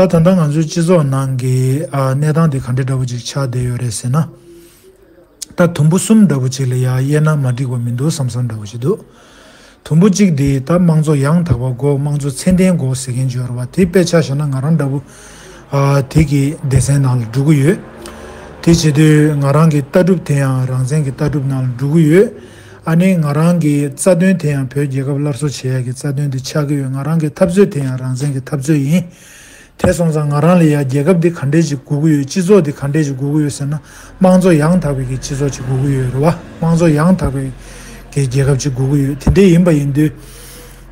ད་ད་ལྟ་ང་ཚོའི་སྤྱི་ཚོགས་ནང་གི་གནས་སྟངས་དེ་ག་འདྲ་འདྲ་པོ་ཅིག་ཆགས་བསྡད་ཡོད་རེད་ཟེར་ན། ད་དུམ་བུ་གསུམ་འདྲ་པོ་ཅིག་ལ་ཡ་དབྱེ་ན་མ་འགྲིག་པ་མི་འདུག་བསམ་བསམ་འདྲ་པོ་ཞིག་འདུག་དུམ་བུ་གཅིག་དེ་ད་དམངས་གཙོ་ཡང་དག་པ་དགོས་དམངས་གཙོ་ཚད་ལྡན་དགོས་ཟེར་མཁན་འབྱོར་བ་དེ་དཔེ་ཆ་བཞག་ན་ང་རང་འདྲ་བོ་དེ་གི་སྡེ་ཚན་ནང་ལ་འགྲོ་གི་ཡོད། དེ་བྱེད་དུས་ང་རང་གི་ལྟ་གྲུབ་དེ་ཡང་རང་བཙན་གྱི་ལྟ་གྲུབ་ནང་ལ་འགྲོ་གི་ཡོད། ཨ་ནེ་ང་རང་གི་རྩ་དོན་དེ་ཡང་བོད་རྒྱལ་ཁབ་སླར་གསོ་བྱེད་ཡག་གི་རྩ་དོན་དེ་ཆགས་ཀྱི་ཡོད་ང་རང་གི་འཐབ་རྩོད་དེ་ཡང་རང་བཙན་གི་འཐབ་རྩོད་ཡིན། དེ་སོང་ཙང་ང་རང་ལ་ཡང་རྒྱལ་ཁབ་འདི་ག་འདྲས་ཅིག་དགོས་ཀྱི་ཡོད་སྤྱི་ཚོགས་འདི་ག་འདྲས་ཅིག་དགོས་ཀྱི་ཡོད་ཟེར་ན་དམངས་གཙོ་ཡང་དག་པའི་གི་སྤྱི་ཚོགས་ཅིག་དགོས་ཀྱི་ཡོད་རེད་བ་དམངས་གཙོ་ཡང་དག་པའི་གི་རྒྱལ་ཁབ་ཅིག་དགོས་ཀྱི་ཡོད་དེ་འདྲས་ཡིན་པ་ཡིན་དུས།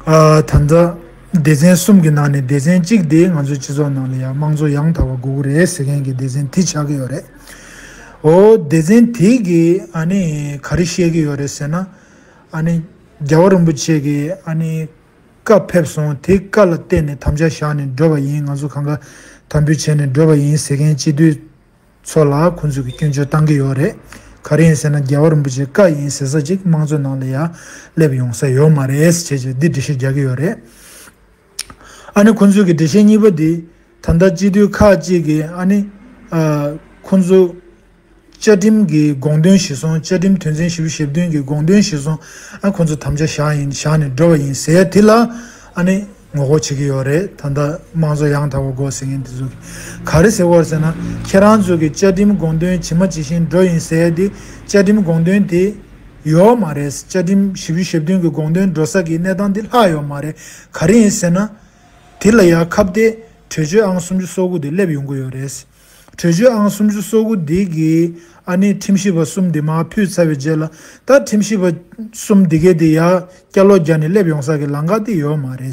ད་ལྟ་སྡེ་ཚན་གསུམ་གི་ནང་ནས་སྡེ་ཚན་གཅིག་དེ་ང་ཚོའི་སྤྱི་ཚོགས་ནང་ལ་ཡང་དམངས་གཙོ་ཡང་དག་པ་དགོས་ཀྱི་རེད་ཟེར་མཁན་གི་སྡེ་ཚན་དེ་ཆགས་ཀྱི་ཡོད་རེད། འོ་སྡེ་ཚན་དེ་གིས་ག་རེ་བཤད་ཀྱི་ཡོད་རེད་ཟེར་ན། རྒྱལ་བ་རིན་པོ་ཆེ་གི་བཀའ་ཕེབས་སོང་དེ་བཀའ་ལ་བརྟེན་ནས་དམ་བཅའ་བཞག་ནས་བགྲོས་པ་ཡིན་ང་ཚོ་གང་དགའ་དམ་འབུལ་བྱས་ནས་བགྲོས་པ་ཡིན་ཟེར་མཁན་སྤྱི་འཐུས་ཚོ་ལ་ཁོང་ཚོས་ཀྱི་སྐྱོན་བརྗོད་བཏང་གི་ཡོད་རེད། ག་རེ་ཡིན་ཟེར་ན་རྒྱལ་བ་རིན་པོ་ཆེ་བཀའ་ཡིན་ཟེར་ས་ཅིག་དམངས་གཙོའི་ནང་ལ་ཡང་སླེབས་ཡོང་ས་ཡོད་མ་རེད་ཟེར་བྱས་བྱས་འདི་འདྲི་ཤེས་རྒྱག་གི་ཡོད་རེད། ཨ་ནི་ཁོ་ཚོའི་གི་འགྲེལ་བཤད་གཉིས་པ་འདི། ད་ལྟ་སྤྱི་འཐུས་ཁག་གཅིག་གིས་ཨ་ནི། ཁོ་ཚོ། བཅའ་ཁྲིམས་གི་དགོངས་དོན་གཞི་བཟུང་བཅའ་ཁྲིམས་དོན་ཚན་ཞེ་དགུ་ཞེ་བདུན་གི་དགོངས་དོན་གཞི་བཟུང་ཨ་ཁོ་ཚོ་དམ་བཅའ་བཞག་ཡིན་བཞག་ནས་འགྲོ་བ་ཡིན་ཟེར་ཡ་དེ་ལ། ཨ་ནི་ངོ་རྒོལ་བྱེད་ཀྱི་ཡོད་རེད་ད་ལྟ་དམངས་གཙོ་ཡང་དག་པ་དགོས་ཟེར་མཁན་དེ་ཚོ་གི་ག་རེ་ཟེར་བར་ཟེར་ན་ཁྱེད་རང་ཚོ་གི་བཅའ་ཁྲིམས་དགོངས་དོན་ཇི་མ་ཇི་བཞིན་འགྲོ་ཡིན་ཟེར་ཡ་དེ་བཅའ་ཁྲིམས་དགོངས་དོན་དེ། ཡོད་མ་རེད། བཅའ་ཁྲིམས་བཞི་བཅུ་ཞེ་བདུན་གྱི་དགོངས་དོན་འགྲོ་ས་ཀྱི་གནས་སྟངས་འདི་ལྷག་ཡོད་མ་རེད། ག་རེ་ཡིན་ཟེར་ན། དེ་ལ་ཡ་ཁབ་སྟེ་གྲོས་ཆོད་ཨང་སུམ་ཅུ་སོ་དགུ་དེ་སླེབས་ཡོང་གི་ཡོད་རེད། གྲོས་ཆོད་ཨང་སུམ་ཅུ་སོ་དགུ་འདི་གིས་ཨ་ནི་ཁྲིམས་ཞིབ་པ་གསུམ་འདི་མ་ཕུད་ཚར་བའི་རྗེས་ལ་ད་ཁྲིམས་ཞིབ་པ་གསུམ་འདི་གས་དེ་ཡ་སྐྱ་ལོ་བརྒྱ་ནས་སླེབས་ཡོང་ས་ཀྱི་ལང་ཀ་དེ་ཡོད་མ་རེད།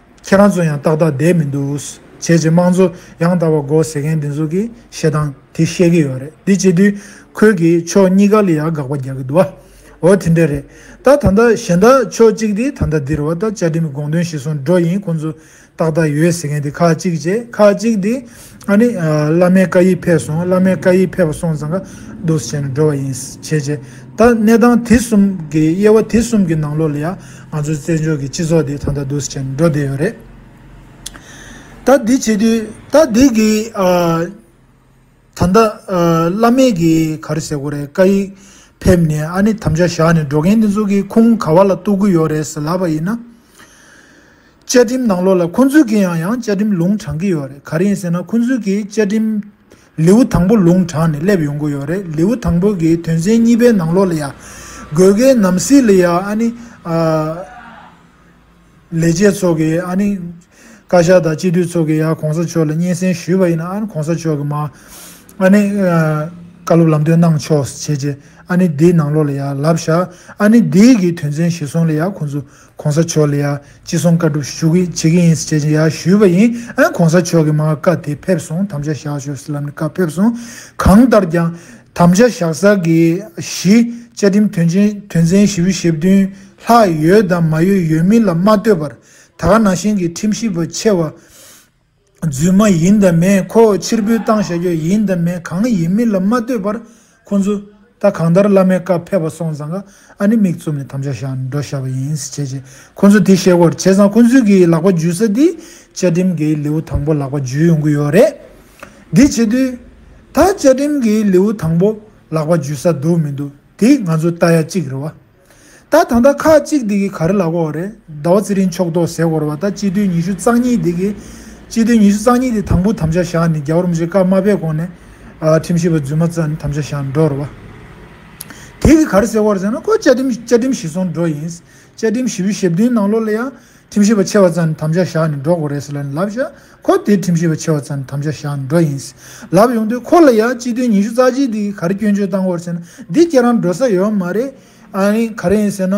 ཁྱེད་རང་ཚོ་ཡང་ཏག་ཏག་བསྡད་མི་འདུག་བྱས་རྗེས་དམངས་གཙོ་ཡང་དག་པ་དགོས་ཟེར་མཁན་འདི་ཚོ་གི་བཤད་སྟངས་དེ་བཤད་ཀྱི་ཡོད་རེད་འདི་བྱེད་དུས་ཁོས་ཀྱི་ཕྱོགས་གཉིས་ཀ་ལ་ཡང་དགག་པ་རྒྱག་གི་འདུག་ཨ་འོ་དེ་འདྲ་རེད་ད་ད་ལྟ་གཞན་དག་ཕྱོགས་གཅིག་དེ་ད་ལྟ་འདིར་བ་ལྟ་བཅའ་ཁྲིམས་དགོངས་དོན་བཞེས་སོང་འགྲོ་ཡིན་ཁོང་ཚོ་ཏག་ཏག་ཡོད་ཟེར་མཁན་དེ་ཁག་གཅིག་བྱས་ཁག་གཅིག་དེ། ཨ་ནི། བླ་མའི་བཀའ་ཡིས་ཕེབས་སོང་བླ་མའི་བཀའ་ཡིས་ཕེབས་སོང་ཙང་ཀ་རྡོ་ཟེར་ནས་འགྲོ་བ་ཡིན། བྱས་རྗེས། ད་གནས་སྟངས་དེ་གསུམ་གྱི་དབྱེ་བ་དེ་གསུམ་གྱི་ནང་ལོགས་ལ་ཡང་ང་ཚོའི་བཙན་བྱོལ་གྱི་སྤྱི་ཚོགས་འདི་ད་ལྟ་རྡོ་ཟེར་ནས་འགྲོ་བསྡད་ཡོད་རེད། ད་འདི་བྱེད་དུས་ད་འདི་གི། ད་ལྟ། བླ་མེད་ཀྱི་ག་རེ་ཟེར་དགོས་རེད་བཀའ་ཡིས་ཕེབས་ནས་ཨ་ནི་དམ་བཅའ་བཞག་ནས་འགྲོ་མཁན་དེ་ཚོ་གི་ཁུངས་ག་བ་ལ་གཏུགས་ཀྱི་ཡོད་རེད་ཟེར་ལབ་པ་ཡིན་ན། བཅའ་ཁྲིམས་ནང་ལོགས་ལ་ཁོ་ཚོས་ཀྱི་ཡང་ཡང་བཅའ་ཁྲིམས་ལུང་དྲངས་ཀྱི་ཡོད་རེད་ག་རེ་ཡིན་ཟེར་ན་ཁོ་ཚོས་ཀྱིས་བཅའ་ཁྲིམས་ལེའུ་དང་པོ་ལུང་དྲངས་ནས་སླེབས་ཡོང་གི་ཡོད་རེད་ལེའུ་དང་པོ་གི་དོན་ཚན་གཉིས་པའི་ནང་ལོགས་ལ་ཡ། དགོས་གལ་ནམ་སྲིད་ལ་ཡ་ཨ་ནི། ལས་བྱེད་ཚོ་གི་ཨ་ནི། བཀའ་ཤག་དང་སྤྱི་འཐུས་ཚོ་གི་ཡ་གོང་ས་མཆོག་ལ་སྙན་སེང་ཞུས་པ་ཡིན་ན་ཨ་གོང་ས་མཆོག་གི་མ། ཨ་ནི། བཀའ་སློབ་ལམ་སྟོན་གནང་ཆོག་བྱས་རྗེས་ཨ་ནི་དེའི་ནང་ལོགས་ལ་ཡ་ལབ་བཞག་ཨ་ནི་དེའི་གི་དོན་ཚན་ཞིག་སོང་ལ་ཡ་ཁོ་ཚོ། གོང་ས་མཆོག་ལ་ཡང་ཅི་གསུང་བཀའ་སྒྲུབ་ཞུ་གི་བྱེད་ཀྱི་ཡིན་ཟེར་བྱས་ཀྱི་ཡག་ཞུས་པ་ཡིན་ཨང་གོང་ས་མཆོག་གིས་མ་བཀའ་དེ་ཕེབས་སོང་དམ་བཅའ་བཞག་ཞོར་སི་ལམ་ནི་བཀའ་ཕེབས་སོང་གང་ལྟར་ཀྱང་དམ་བཅའ་བཞག་ས་གི་གཞི་བཅའ་ཁྲིམས་དོན་ཆེན་དོན་ཚན་བཞི་བོ་ཞེ་བདུན་ལྷག་ཡོད་དམ་མ་ཡོད་ཡོད་མིན་ལ་མ་ལྟོས་པར་ད་ག་ནང་བཞིན་གྱི་ཁྲིམས་ཞིབ་པ་ཆེ་བ་རྫུན་མ་ཡིན་དང་མིན་ཁོ་ཕྱིར་འབུད་བཏང་བྱ་རྒྱུ་ཡིན་དང་མིན་གང་ཡིན་མིན་ལ་མ་ལྟོས་པར་ཁོང་ཚོས་ད་གང་ལྟར་བླ་མའི་བཀའ་ཕེབས་པ་སོང་ཙང་ཀ་ཨ་ནི་མིག་བཙུམ་ནས་དམ་བཅའ་བཞག་འགྲོ་བཞག་པ་ཡིན་ཟེར་བྱས་རྗེས་ཁོང་ཚོས་དེ་བཤད་སྐོར་བྱས་ཙང་ཁོང་ཚོས་ཀྱི་ལག་པ་འཇུས་ས་འདི་བཅའ་ཁྲིམས་ཀྱི་ལེའུ་དང་པོ་ལག་པ་འཇུས་ཡོང་གི་ཡོད་རེད། འདི་བྱེད་དུས་ད་བཅའ་ཁྲིམས་ཀྱི་ལེའུ་དང་པོ་ལག་པ་འཇུས་ས་འདུག་མི་འདུག་དེ་ང་ཚོས་ལྟ་ཡ་གཅིག་རེད་བ། ད་ད་ད་ཁག་གཅིག་འདི་གི་ག་རེ་ལ་གོ་བ་རེད་ཟླ་བ་ཚེ་རིང་མཆོག་ཟློག་ཟེར་གོ་ར་བ་ད་སྤྱི་འཐུས་ཉི་ཤུ་རྩ་གཉིས་འདི་གི། སྤྱི་འཐུས་ཉི་ཤུ་རྩ་གཉིས་འདི་དང་པོ་དམ་བཅའ་བཞག་ནས་རྒྱ་གར་རུམ་ཇི་ཀ་མ་བས་གོང་ནས། ཁྲིམས་ཞིབ་པ་རྫུན་མ་རྩ་ནས་དམ་བཅའ་བཞག་ནས་འགྲོ་ར་བ། དེ་གི་ག་རེ་ཟེར་གོ་ར་ཟེར་ན་ཀོ་བཅའ་ཁྲིམས་བཅའ་ཁྲིམས་ཞིབ་སོང་འགྲོ་ཡིན། བཅའ་ཁྲིམས་ཞིབ་བཞེས་བདུན་ནང་ལོགས་ལ་ཡང། ཁྲིམས་ཞིབ་པ་ཆེ་བ་ཙམ་ནི་དམ་བཅའ་བཞག་ནས་འགྲོ་དགོས་རེད་ཟེར་ལབ་ནས་ལབ་བཞག་ཁོ་དེ་ཁྲིམས་ཞིབ་པ་ཆེ་བ་ཙམ་ནི་དམ་བཅའ་བཞག་ནས་འགྲོ་ཡིན་ཟེར་ལབ་ཡོང་དུས་ཁོ་ལ་ཡང་སྤྱི་དོན་ཉི་ཤུ་རྩ་གཅིག་འདི་ག་རེ་སྐྱོན་བརྗོད་བཏང་གོ་ཟེར་ན་འདི་ཁྱེད་རང་འགྲོ་ས་ཡོད་མ་རེད་ཨང་རིང་ག་རེ་ཡིན་ཟེར་ན།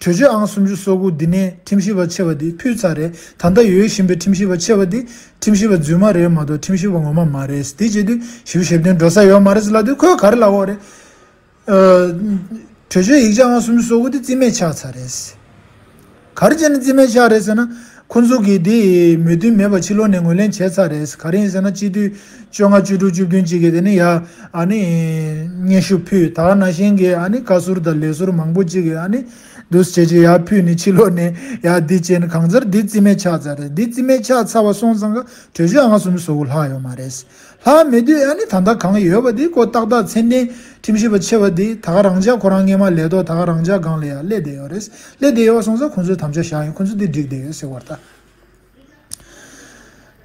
གྲོས་ཆོད་ཨང་སུམ་ཅུ་སོ་དགུ་འདི་ནས་ཁྲིམས་ཞིབ་པ་ཆེ་བ་འདི་ཕུད་ཚར་རེད་ད་ལྟ་ཡོད་བཞིན་པའི་ཁྲིམས་ཞིབ་པ་ཆེ་བ་འདི་ཁྲིམས་ཞིབ་པ་རྫུན་མ་རེད་མ་གཏོགས་ཁྲིམས་ཞིབ་པ་ངོ་མ་མ་རེད་དེ་བྱས་དུས་ཞིབ་བྱེད་དོན་འགྲོ་ས་ཡོད་མ་རེད་ཟེར་ལབ་དུས་ཁོས་ག་རེ་ལབ་འོང་རེད། བྲོས་བྱོལ་ཡིག་ཆ་ཨང་གསུམ་སོགས་དེ་རྩིས་མེད་ཆགས་ཚར་རེད། ག་རེ་བྱས་ནས་རྩིས་མེད་ཆགས་རེད་ཟེར་ན། ཁོ་ཚོ་གིས་དེ་མོས་མཐུན་མེད་པར་ཕྱི་ལོགས་ནས་ངོས་ལེན་བྱས་ཚར་རེད། ག་རེ་ཡིན་ཟེར་ན་སྤྱི་འཐུས་བཅོ་ལྔ་བཅུ་དྲུག་བཅུ་བདུན་གཅིག་གིས་དེ་ནི་ཡ་ནི་སྙན་ཞུ་ཕུལ་དག་ན་གཞན་གྱི་ཡ་ནི་བཀའ་ཟུར་དང་ལས་ཟུར་མང་པོ་གཅིག་གིས་ཡ་ནི་འདུས་བྱས་ཀྱི་ཡ་ཕུལ་ནས་ཕྱི་ལོགས་ནས་ཡ་འདི་བྱས་ནས་གང་ཚར་དེ་རྩིས་མེད་ཆགས་ཚར་རེད། འདི་རྩིས་མེད་ཆགས་ཚར་བ་སོང་ཙང་ཀ་བྲོས་བྱོལ་ཨང་གསུམ་བཟོ་དགོས་ལྷག་ཡོད་མ་རེད། ལྷ་མི་དུས་ཨ་ནི་ད་ལྟ་གང་ཡོད་པ་དེ་ཀོ་ཏག་ཏག་མཚན་ལྡན་ཁྲིམས་ཞིབ་པ་ཆེ་བ་དེ་ད་ག་རང་ཅག་ཁོ་རང་ངེད་མ་ལས་ཐོག་ད་ག་རང་ཅག་སྒང་ལ་ཡང་སླེབས་བསྡད་ཡོད་རེད་སླེབས་བསྡད་ཡོད་སོང་ས་ཁོང་ཚོས་དམ་བཅའ་བཞག་ཡིན་ཁོང་ཚོས་དེ་བསྒྲིགས་བསྡད་ཡོད་ཟེར་བར་ད།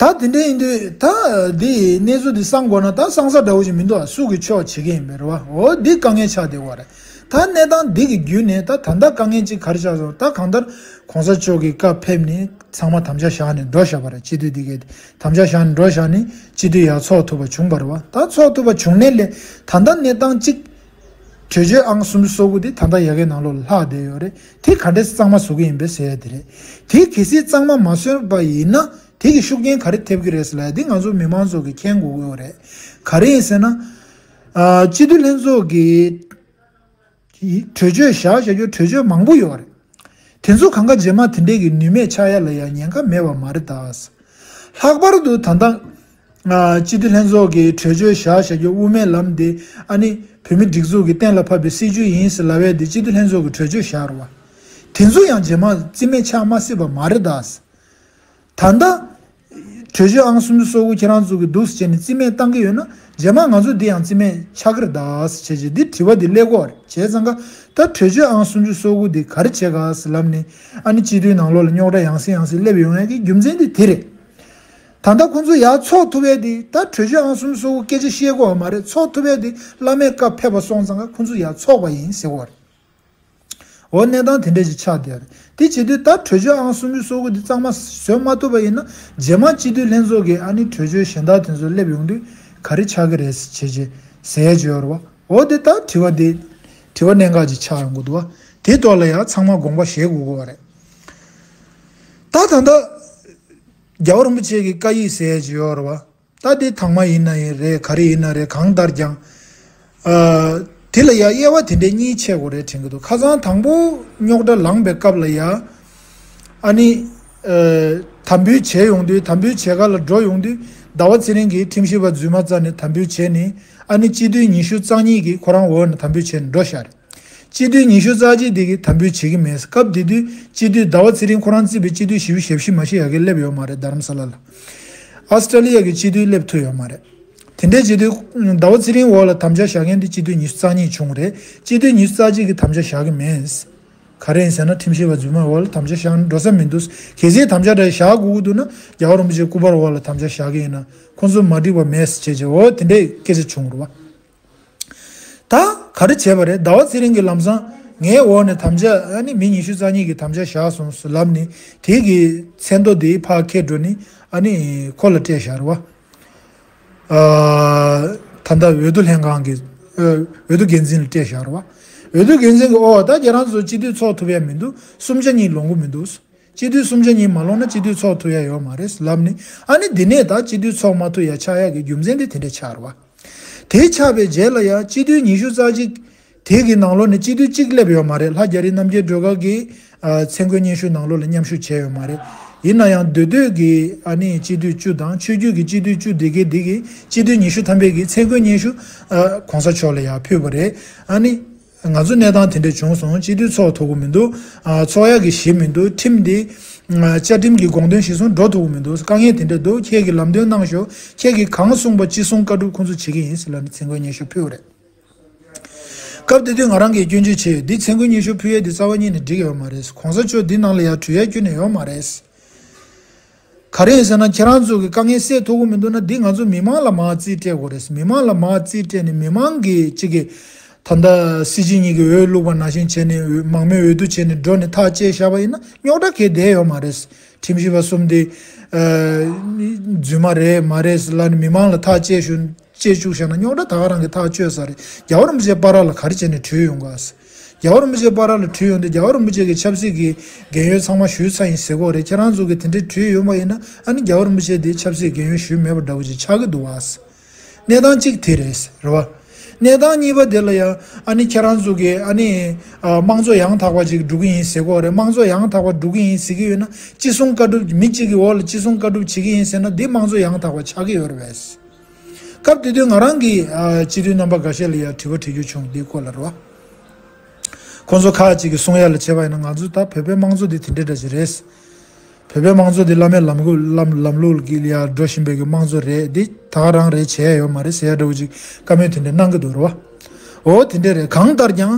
ད་དེ་འདྲ་ཡིན་དུས་ད་དེ་གནས་ཚུལ་དེ་གསང་དགོས་ན་ད་གསང་ས་འདྲ་བོ་ཞིག་མི་འདུག་ཨ་སུ་གི་ཆོག་བྱེད་ཀྱི་ཡིན་པའི་རེ་བ་འོ་འདི་དཀའ་ངལ་ཆགས་བསྡད་བ་རེད་ད་གནས་སྟངས་འདི་གི་བརྒྱུད་ནས་ད་ད་ལྟ་དཀའ་ངལ་ཅིག་གར་ཆགས་སོང་ད་གང་ལྟར ྋགོང་ས་མཆོག་གི་བཀའ་ཕེབས་ནས་ཚང་མ་དམ་བཅའ་བཞག་ནས་འགྲོ་ཞབས་པ་རེད་སྤྱི་འཐུས་འདི་གའི་དམ་བཅའ་བཞག་ནས་འགྲོ་བཞག་ནས་སྤྱི་འཐུས་ཡར་འཚོགས་ཐུབ་པ་བྱུང་བར་བ་ད་འཚོགས་ཐུབ་པ་བྱུང་ནས་ལས་ད་ལྟ་གནས་སྟངས་གཅིག་གྲོས་ཆོད་ཨང་གསུམ་སོ་དགུ་དེ་ད་ལྟ་ཡ་གའི་ནང་ལོག་ལ་ལྷག་བསྡད་ཡོད་རེད་དེ་ག་འདྲས་གཙང་མ་བཟོ་གི་ཡིན་པའི་ཟེར་ཡ་དེ་རེད་དེ་གལ་སྲིད་གཙང་མ་མ་བཟོས་པ་ཡིན་ན་དེ་གི་ཤུགས་རྐྱེན་ག་རེ་ཐེབས་ཀྱི་རེད་ཟེར་ལ་ཡ་དེ་ང་ཚོ་མི་མང་ཚོགས་ཀྱི་མཁྱེན་དགོས་ཀྱི་ཡོད་རེད་ག་རེ་ཡིན་ཟེར་ན། སྤྱི་འཐུས་ལྷན་ཚོགས་ཀྱི། གྲོས་ཆོད་བཞག་བཞག་རྒྱུ་གྲོས་ཆོད་མང་པོ་ཡོད་རེད། དེ་ཚོ་གང་ག་རྗེས་མ་དེ་འདྲས་ཀྱི་ནུས་མེད་ཆགས་ཡ་ལ་ཡ་ཉན་ཀ་མེད་བ་མ་རེད་ད། ལྷག་པར་དུ་ད་ལྟ། སྤྱི་འཐུས་ལྷན་ཚོགས་ཀྱི་གྲོས་ཆོད་བཞག་བཞག་རྒྱུ་དབུ་མའི་ལམ་དེ་ཨ་ནི་བོད་མི་སྒྲིག་འཛུགས་ཀྱི་གཏན་ལ་ཕབ་པའི་སྲིད་བྱུས་ཡིན་ཟེར་ལ་བས་དེ་སྤྱི་འཐུས་ལྷན་ཚོགས་ཀྱི་གྲོས་ཆོད་བཞག་རེད་བ། དེ་ཚོ་ཡང་རྗེས་མ་རྩིས་མེད་ཆགས་མ་སྲིད་པ་མ་རེད་ད། ད་ལྟ། གྲོས་གཞི་ཨང་གསུམ་སོ་དགུ་ཁྱེད་རང་ཚོ་གི་སྡུགས་སུ་བྱས་ནས་རྩིས་མེད་བཏང་གི་ཡོད་ན་རྗེས་མ་ང་ཚོ་འདི་ཡང་རྩིས་མེད་ཆགས་ཀིར་གདའ་ཟེར་བྱས་བྱས་འདི་དྲི་བ་འདི་སླད་གོ་བར་བྱས་ཙང་ཀ་ད་གྲོས་གཞི་ཨང་སུམ་ཅུ་སོ་དགུ་འདི་ག་རེ་བྱས་ག་ཟེར་ལབ་ནས་ཨ་ནི་སྤྱི་འཐུས་ནང་ལོག་ལ་རྙོག་དྲ་ཡང་སེ་ཡང་སེ་སླེབས་ཡོང་ཡ་གི་རྒྱུ་མཚན་འདི་དེ་རེད། ད་ལྟ་ཁོང་ཚོ་ཡ་ཚོགས་ཐུབ་བས་འདི་ད་གྲོས་གཞི་ཨང་གསུམ་སོ་དགུ་སྐད་ཆ་བཤད་གོ་བ་མ་རེད་ཚོགས་ཐུབ་བས་འདི་བླ་མའི་བཀའ་ཕེབས་པ་སོང་ཙང་ཀ་ཁོང་ཚོ་ཡ་ཚོགས་པ་ཡིན་ཟེར་གོ་བ་རེད། འོ་གནས་སྟངས་དེ་འདྲས་ཀྱི་ཆགས་བསྡད་རེད། དེ་བྱེད་དུས་ད་བྲོས་བྱོལ་ཨང་གསུམ་པའི་སོ་གོ་དེ་གཙང་མ་བཟོས་མ་ཐུབ་པ་ཡིན་ན་རྗེས་མ་སྤྱི་འཐུས་ལྷན་ཚོགས་ཀྱིས་ཨ་ནི་བྲོས་བྱོལ་གཞན་དག་དེ་ཚོ་སླེབས་ཡོང་དུས་ག་རེ་ཆགས་ཀྱི་རེད་བྱས་བྱས་ཟེར་ཡས་བྱོལ་བ་འོ་དེ་ད་དྲི་བ་དེ་དྲི་བ་གནད་འགག་ཅིག་ཆགས་ཡོང་གི་འདུག་བ་དེའི་ཐོག་ལ་ཡང་ཚང་མ་དགོངས་པ་བཞེས་དགོས་དགོས་བ་རེད། ད་ད་ལྟ། རྒྱལ་བ་རིན་པོ་ཆེ་གི་བཀའ་ཡིག་ཟེར་ཡས་བྱོལ་བ། ད་དེ་དག་མ་ཡིན་ན་ཡིན་རེད་ག་རེ་ཡིན་ན་རེད་གང་ལྟར་ཀྱང། དེ་ལ་ཡང་དབྱེ་བ་དེ་འདྲའི་གཉིས་ཆེ་གོ་རེ་དྲན་གྱི་འདུག་ཁ་སང་དང་པོ་རྙོག་དྲ་ལངས་པའི་སྐབས་ལ་ཡང། ཨ་ནི། དམ་འབུལ་བྱས་ཡོང་དུས་དམ་འབུལ་བྱེད་ག་ལ་འགྲོ་ཡོང་དུས་ཟླ་བ་ཚེ་རིང་གིས་ཁྲིམས་ཞིབ་པ་རྫུན་མ་རྩ་ནས་དམ་འབུལ་བྱས་ནས་ཨ་ནི་སྤྱི་འཐུས་ཉི་ཤུ་རྩ་གཉིས་ཀྱིས་ཁོ་རང་འོས་ན་དམ་འབུལ་བྱས་ནས་འགྲོ་ཤར། སྤྱི་འཐུས་ཉི་ཤུ་རྩ་གཅིག་དེ་གས་དམ་འབུལ་བྱེད་ཀྱི་མེད། སྐབས་དེ་དུས་སྤྱི་འཐུས་ཟླ་བ་ཚེ་རིང་ཁོ་རང་བརྩིས་པའི་སྤྱི་འཐུས་ཞི་བའི་ཞབས་ཕྱི་མ་ཤེས་ཡ་གས་སླེབས་ཡོད་མ་རེད་རྡ་རམ་ས་ལ་ལ། Australia གྱི་སྤྱི་འཐུས་སླེབས་ཐུབ་ཡོད་མ་རེད། དེ་འདྲའི་སྤྱི་འཐུས། ཟླ་བ་ཚེ་རིང་འོག་ལ་དམ་བཅའ་བཞག་མཁན་དེ་སྤྱི་འཐུས་ཉི་ཤུ་རྩ་གཉིས་བྱུང་རེད། སྤྱི་འཐུས་ཉི་ཤུ་རྩ་གཅིག་གིས་དམ་བཅའ་བཞག་གི་མེད། ག་རེ་ཡིན་ཟེར་ན་ཁྲིམས་ཞིབ་པ་རྫུན་མའི་འོག་ལ་དམ་བཅའ་བཞག་ནས་འགྲོ་ས་མི་འདུག་གལ་སྲིད་དམ་བཅའ་འདྲ་ཞིག་བཞག་དགོས་ཀྱི་འདུག་ན་རྒྱ་གར་རིན་པོ་ཆེའི་སྐུ་པར་འོག་ལ་དམ་བཅའ་བཞག་གི་ཡིན། ཁོང་ཚོས་མ་འགྲིག་པ་མེད་ཟེར་བྱས་རྗེས་འོ་དེ་འདྲའི་སྐད་ཆ་བྱུང་རུང་བ། ད་ག་རེ་བྱས་པ་རེད་ཟླ་བ་ཚེ་རིང་གི་ལམ་བཟང་ངའི་འོག་ནས་དམ་བཅའ་ཨ་ནི་མི་ཉི་ཤུ་རྩ་གཉིས་ཀྱི་དམ་བཅའ་བཞག་སོང་ཟུར་ལམ་ནི་དེ་གི་མཚན་ཐོ་དེའི་ཕ་ཁེ་འགྲོ་ནི་ཨ་ནི་ཁོ་ལ་སྤྲད་ཤར་བ། ད་ལྟ་འོས་བསྡུ་ལྷན་ཁང་གི་འོས་བསྡུ་འགན་འཛིན་ལ་སྤྲད་ཤར་བ། འོས་བསྡུ་འགན་འཛིན་གྱི་ཨོ་ད་ཁྱེད་རང་ཚོ་སྤྱི་འཐུས་ཚོགས་ཐུབ་ཡ་མི་འདུག་གསུམ་ཆ་གཉིས་ལོངས་གི་མི་འདུག་སྤྱི་འཐུས་གསུམ་ཆ་གཉིས་མ་ལོངས་ན་སྤྱི་འཐུས་ཚོགས་ཐུག་ཡ་ཡོད་མ་རེད་ལབ་ནི། ཨ་ནི་འདི་ནས་ད་སྤྱི་འཐུས་ཚོགས་མ་ཐུག་ཡ་ཆགས་ཡ་གི་རྒྱུ་མཚན་དེ་དེ་འདྲས་ཆགས་ར་བ། དེ་ཆགས་པའི་རྗེས་ལ་ཡ་སྤྱི་འཐུས་ཉི་ཤུ་རྩ་གཅིག། དེ་གི་ནང་ལོ་ནས་སྤྱི་འཐུས་གཅིག་སླེབས་ཡོད་མ་རེད་ལྷ་རྒྱ་རི་རྣམ་རྒྱལ་སྒྲོལ་དཀར་གི་མཚན་ཁོད་སྙན་ཞུ་ནང་ལོ་ལ་མཉམ་ཞུགས་བྱས་ཡོད་མ་རེད། ཡིན་ན་ཡང་འདུས་སྡོད་གི་ཨ་ནི་སྤྱི་འཐུས་བཅུ་དང་ཆོས་རྒྱུད་ཀྱི་སྤྱི་འཐུས་བཅུ་དེ་གའི་དེ་གི་སྤྱི་འཐུས་ཉི་ཤུ་ཐམ་པས་གི་མཚན་ཁོད་སྙན་ཞུ་ཨ་གོང་ས་མཆོག་ལ་ཡ་ཕུལ་བ་རེད་ཨ་ནི། ང་ཚོ་གནས་སྟངས་དེ་འདྲ་བྱུང་སོང་སྤྱི་འཐུས་ཚོགས་ཐུབ་ཀྱི་མི་འདུག་ཚོགས་ཡག་གི་བཞེས་མི་འདུག་ཁྲིམས་དེ། བཅའ་ཁྲིམས་ཀྱི་དགོངས་དོན་གཞི་བཟུང་འགྲོ་ཐུབ་ཀྱི་མི་འདུག་དཀའ་ངལ་དེ་འདྲ་འདུག་ཁྱེད་ཀྱིས་ལམ་སྟོན་གནང་ཞོག་ཁྱེད་ཀྱིས་གང་གསུངས་པ་ཅི་གསུངས་བཀའ་སྒྲུབ་ཁོང་ཚོས་བྱེད་ཀྱི་ཡིན་ཟེར་ལབ་འདི་ཚེ་མགོན་སྙན་ཞུ་ཕུལ་བ་རེད། སྐབས་དེ་དུས་ང་རང་གིས་སྐྱོན་བརྗོད་བྱས་ཡོད་འདི་ཚེ་མགོན་སྙན་ཞུ་ཕུལ་ཡས་འདི་རྩ་བ་གཉིས་ནས་འགྲིག་ཡོད་མ་རེད་གོང་ས་མཆོག་འདི་ནང་ལ་ཡར་དྲུད་ཡས་བསྐྱུར་ནས་ཡོད་མ་རེད། ག་རེད་ཟེར་ན་ཁྱེད་རང་ཚོ་གི་དཀའ་ངལ་སེལ་ཐུབ་གི་མི་འདུག་ན་འདི་ང་ཚོ་མི་མང་ལ་མ་རྩིས་སྤྲད་དགོས་རེད་མི་མང་ལ་མ་རྩིས་སྤྲད་ནས་མི་མང་གི་གཅིག་གི་ད་ལྟ་སྲིད་སྤྱི་གཉིས་ཀྱི་འོས་བླུགས་པ་ནང་བཞིན་བྱས་ནས་མང་མོས་འོས་བསྡུ་བྱས་ནས་འགྲོ་ནས་ཐག་བཅད་བཞག་པ་ཡིན་ན་རྙོག་དྲ་གས་བསྡད་ཡོད་མ་རེད། ཁྲིམས་ཞིབ་པ་གསུམ་དེ། རྫུན་མ་རེད་མ་རེད་ཟེར་ལ་ནི་མི་མང་ལ་ཐག་བཅད་ཞུ། སྤྱད་བཅུག་བཤད་ན་རྙོག་དྲ་དག་རང་གིས་ཐག་གཅོད་ས་རེད་རྒྱ་བ་རིན་པོ་ཆེ་པ་ར་ལ་ག་རེ་བྱས་ནས་དྲུད་ཡོང་ག་ཟེ། རྒྱ་བ་རིན་པོ་ཆེ་པ་ར་ལ་དྲུད་ཡོང་དུས་རྒྱ་བ་རིན་པོ་ཆེ་གི་ཆབ་སྲིད་ཀྱི་འགན་ཡོལ་ཚང་མ་ཞུས་ཚར་ཡིན་ཟེ་གོ་རེད་ཁྱེད་རང་ཚོ་གིས་དེ་འདྲའི་དྲུད་ཡོང་པ་ཡིན་ན་ཨ་ནི་རྒྱ་བ་རིན་པོ་ཆེ་དེས་ཆབ་སྲིད་འགན་ཡོལ་ཞུས་མེད་པ་འདྲ་བོ་ཞིག་ཆགས་ཀྱི་འདུག་ག་ཟེ། གནས་སྟངས་གཅིག་དེ་རེད་ཟེ་རེད་བ། གནས་སྟངས་གཉིས་པ་དེ་ལ་ཡང་ཨ་ནི་ཁྱེད་རང་ཚོ་གིས་ཨ་ནི། དམངས་གཙོ་ཡང་དག་པ་ཅིག་སྒྲུག་གི་ཡིན་ཟེ་གོ་རེད་དམངས་གཙོ་ཡང་དག་པ་སྒྲུག་གི་ཡིན་ཟེ་གི་ཡོད་ན་ཅི་གསུང་དཀའ་སྒྲུབ་མི་གཅིག་གི་འོག་ལ་ཅི་གསུང་དཀའ་སྒྲུབ་བྱེད་ཀྱི་ཡིན་ཟེ་ན་འདི་དམངས་གཙོ་ཡང་དག་པ་ཆགས་ཀྱི་ཡོད་རེད་བས། སྐབས་དེ་དུས་ང་རང་གིས་སྤྱི་འཐུས་རྣམ་པ་འགའ་ཤས་ལ་ཡང་དྲི་བ་དྲི་རྒྱུ་བྱུང་འདི་སྐོར་ལ་རོ། ཁོང་ཚོ་ཁག་ཅིག་གིས་གསུང་ཡག་ལ་བྱས་པ་ཡིན་ན་ང་ཚོས་ད་བོད་པའི་དམངས་གཙོ་འདི་དེ་འདྲའི་འདྲ་ཅིག་རེད། བོད་པའི་དམངས་གཙོ་འདི་བླ་མའི་ལམ་ལུགས་ཀྱི་ལ་འགྲོ་བཞིན་པའི་གི་དམངས་གཙོ་རེད་འདི་ད་ག་རང་རེད་བྱས་ཡག་ཡོད་མ་རེད་ཟེར་ཡག་འདྲ་བོ་ཅིག་བཀའ་མོལ་དེ་འདྲའི་གནང་གི་འདུག་རོ། འོ་དེ་འདྲས་རེད་གང་ལྟར་ཀྱང།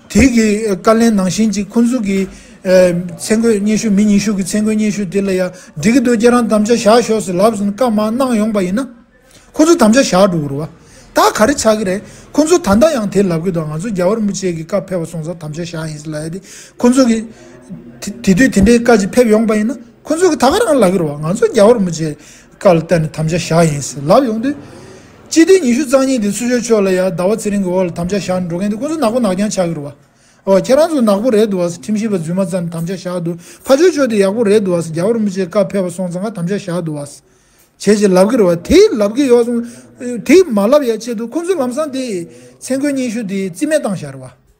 དེ་གི་བཀའ་ལན་ནང་བཞིན་གྱི་ཁོང་ཚོ་གི་མཚན་བཀོད་སྙན་ཞུ་མི་ཉི་ཤུ་གི་མཚན་བཀོད་སྙན་ཞུ་དེ་ལ་ཡང་འགྲིག་གི་འདུག་ཁྱེད་རང་དམ་བཅའ་བཞག་ཞོག་ཟེར་ལབ་ཟིན་བཀའ་མ་གནང་ཡོང་པ་ཡིན་ན། ཁོང་ཚོ་དམ་བཅའ་བཞག་འགྲོ་གི་རུ་བ། ད་ག་རེ་ཆགས་ཀྱི་རེད་ཁོང་ཚོ་ད་ལྟ་ཡང་དེ་ལབ་ཀྱི་འདུག་ང་ཚོ་རྒྱལ་བ་རིན་པོ་ཆེ་གི་བཀའ་ཕེབས་པ་སོང་ཙང་དམ་བཅའ་བཞག་ཡིན་ཟེར་ལབ་ཡ་དེ་ཁོང་ཚོ་གི། དེ་དུས་དེ་འདྲའི་བཀའ་གྱི་ཕེབས་ཡོང་པ་ཡིན་ན་ཁོང་ཚོ་གི་ད་ག་རེ་ཡང་ལབ་ཀྱི་རུ་བ་ང་ཚོ་རྒྱལ་བ་རིན་པོ་ཆེ། བཀའ་ལ་བལྟས་ནས་དམ་བཅའ་བཞག་ཡིན་ཟེར་ལབ་ཡོང་དུས། སྤྱི་ཏི་ཉི་ཤུ་རྩ་གཉིས་དེ་ཚུལ་འཆོས་ཆོས་ལ་ཡང་ཟླ་བ་ཚེ་རིང་གི་འོག་ལ་དམ་བཅའ་བཞག་ནས་འགྲོ་མཁན་དེ་ཀུན་སུ་ནག་པོ་ནག་རྐྱང་ཆགས་ཀྱི་རུ་བ། ཨོ་ཁྱེད་རང་ཚོ་ནག་པོ་རེད་འདུག་བ་ཟེར་ཁྲིམས་ཞིབ་པ་རྫུན་མ་ཙམ་དམ་བཅའ་བཞག་འདུག་ཕ་ཆོས་ཆོས་དེ་ཡག་པོ་རེད་འདུག་བ་ཟེར་རྒྱ་བོར་མི་བྱེད་སྐབས་ཕེབས་པ་སོང་ཙང་ང་དམ་བཅའ་བཞག་འདུག་བ། བྱེད་བྱེད་ལབ་ཀྱི་རུ་བ་དེ་ལབ་ཀྱི་ཡོག་སོང། དེ་མ་ལབ་ཡ་ཆེད་དུ་ཁོང་ཚོས་ལམ་སང་དེ། ཚེ་མགོན་སྙན་ཞུ་དེ་རྩིས་མེད་བཏང་བཞག་རུ་བ།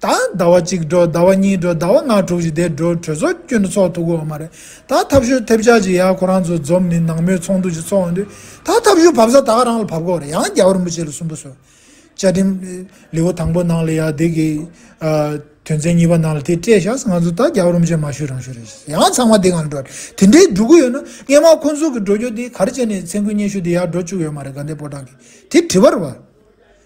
དང། ཟླ་བ་གཅིག་འགྲོ་ཟླ་བ་གཉིས་འགྲོ་ཟླ་བ་ང་དྲུག་ཅིག་དེ་འགྲོ་གྲོས་ཚོགས་སྐྱོན་དུ་ཚོགས་ཐུག་གོ་མ་རེད་ད་ཐབས་ཤོད་ཐེབས་ཆག་ཅིག་ཡ་ཁོ་རང་ཚོ་འཛོམས་ནི་ནང་མོལ་ཚོགས་འདུ་ཅིག་ཚོགས་འོང་དུས་ད་ཐབས་ཤོད་བབས་ས་ད་ག་རང་ལ་བབས་གོ་རེད་ཡང་རྒྱ་བོར་མི་བྱེད་ལ་སུན་པོ་བཟོ། བཅའ་ཁྲིམས། ལེའུ་དང་པོ་ནང་ལ་ཡ་དེ་གི། དོན་ཚན་གཉིས་པ་ནང་ལ་དེ་སྤྲད་བཞག་ང་ཚོ་ད་རྒྱ་བོར་མི་བྱེད་མ་ཞུས་རང་ཞུས་རེད་ཡ་ཚང་མ་དེ་ག་ལ་འགྲོ་རེད་དེ་འདྲའི་སྒྲུག་གི་ཡོད་ན་སྔན་མ་ཁོ་ཚོ་གི་འགྲོ་སྐྱོད་དེ་ག་རེ་བྱས་ནས་ཚན་ཁུལ་སྙན་ཞུ་དེ་ཡ་འགྲོ་བཅུག་ཡོད་མ་རེད་དགའ་ལྡན་ཕོ་བྲང་གིས་དེ་དྲི་བར་བ།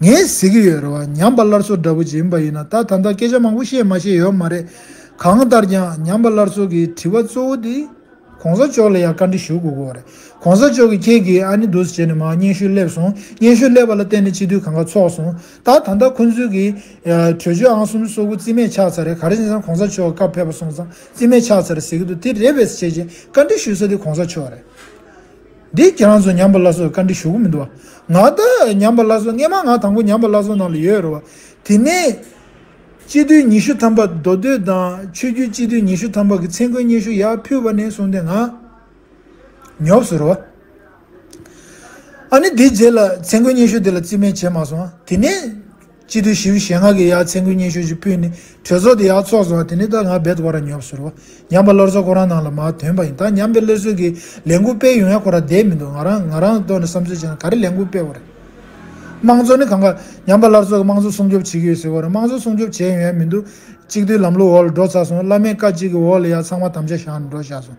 ངས་ཟེར་གྱི་ཡོད་རེད་བ་ཉམས་པ་སླར་གསོ་འདྲ་བོ་སྦྱིན་པ་ཡིན་ན་ད་ད་ལྟ་སྐད་ཆ་མང་པོ་བཤད་མ་བཤད་ཡོད་མ་རེད། གང་ལྟར་ཀྱང་ཉམས་པ་སླར་གསོ་གི་དྲི་བ་གཙོ་བོ་དེ། གོང་ས་མཆོག་ལ་ཡང་བཀའ་འདྲི་ཞུ་དགོས་དགོས་བ་རེད། གོང་ས་མཆོག་གིས་ཁྱེད་ཀྱིས་ཨ་ནི་འདུ་བྱེད་ནས་མང་སྙན་ཞུ་སླེབས་སོང་སྙན་ཞུ་སླེབས་པ་ལ་བརྟེན་ནས་སྤྱི་འཐུས་གང་ག་ཚོགས་སོང་ད་ད་ལྟ་ཁོང་ཚོས་ཀྱི། གྲོས་ཆོད་ཨང་གསུམ་སོ་དགུ་རྩིས་མེད་ཆགས་ཚར་རེད་ག་རེ་བྱས་ཙང་གོང་ས་མཆོག་སྐབས་ཕེབས་པ་སོང་ཙང་རྩིས་མེད་ཆགས་ཚར་རེད་ཟེར་གྱི་འདུག་དེ་རེད་བས་བྱས་རྗེས་བཀའ་འདྲི་ཞུ་ས་དེ་གོང་ས་མཆོག་རེད། འདི་ཁྱེད་རང་ཚོ་ཉམས་པ་སླར་གསོ་བཀའ་འདྲི་ཞུ་གི་མི་འདུག་ང་ད་ཉམས་པ་སླར་གསོ་སྔས་མ་ང་དང་པོ་ཉམས་པ་སླར་གསོ་ནང་ལ་ཡོད་རེད་བ། དེ་ནས། སྤྱི་འཐུས་ཉི་ཤུ་ཐམ་པ་མདོ་སྟོད་དང་ཆོས་བརྒྱུད་སྤྱི་འཐུས་ཉི་ཤུ་ཐམ་པ་གི་མཚན་བཀོད་སྙན་ཞུ་ཡག་ཕུལ་བ་ནས་བཟུང་སྟེ་ང། ཉོབ་སོ་རེད་བ། ཨ་ནི་དེའི་རྗེས་ལ་མཚན་བཀོད་སྙན་ཞུ་དེ་ལ་རྩིས་མེད་བྱས་མ་སོང། དེ་ནས། སྤྱི་འཐུས་ཞི་བའི་ཞལ་སྔ་གི་ཡ་མཚན་དགུ་བརྙན་ཤོས་ཀྱི་སྤུས་ནི་གྲོས་ཚོགས་དེ་ཡག་ཚོགས་བཟོ་བ་དེ་ནི་ད་ང་འབད་དུ་བ་ར་ཉོབ་ཟོར་བ་ཉམས་པ་བློར་ཚོགས་ཁོ་རང་ནང་ལ་མ་དོན་པ་ཡིན་ད་ཉམས་པའི་བློས་བཟོད་ཀྱི་ལས་འགུལ་སྤེལ་ཡོང་ཡ་ཁོ་ར་བསྡད་མི་འདུག་ང་རང་ང་རང་ཏོག་ནས་བསམ་ཚོད་བྱས་ན་ག་རེ་ལས་འགུལ་སྤེལ་བ་རེད། དམངས་གཙོ་ནི་གང་ག་ཉམས་པ་བླར་ཚོགས་ཀྱི་དམངས་གཙོ་སྲུང་སྐྱོབ་བྱེད་ཀྱི་ཡོད་ཟེར་བ་རེད་དམངས་གཙོ་སྲུང་སྐྱོབ་བྱས་ཡོང་ཡ་མི་འདུག་གཅིག་བསྡུས་ལམ་ལུགས་འོག་ལ་འགྲོ་ཚར་སོང་བླ་མའི་བཀའ་གཅིག་གི་འོག་ལ་ཡ་ཚང་མ་དམ་བཅའ་བཞག་ནས་འགྲོ་བཞག་སོང།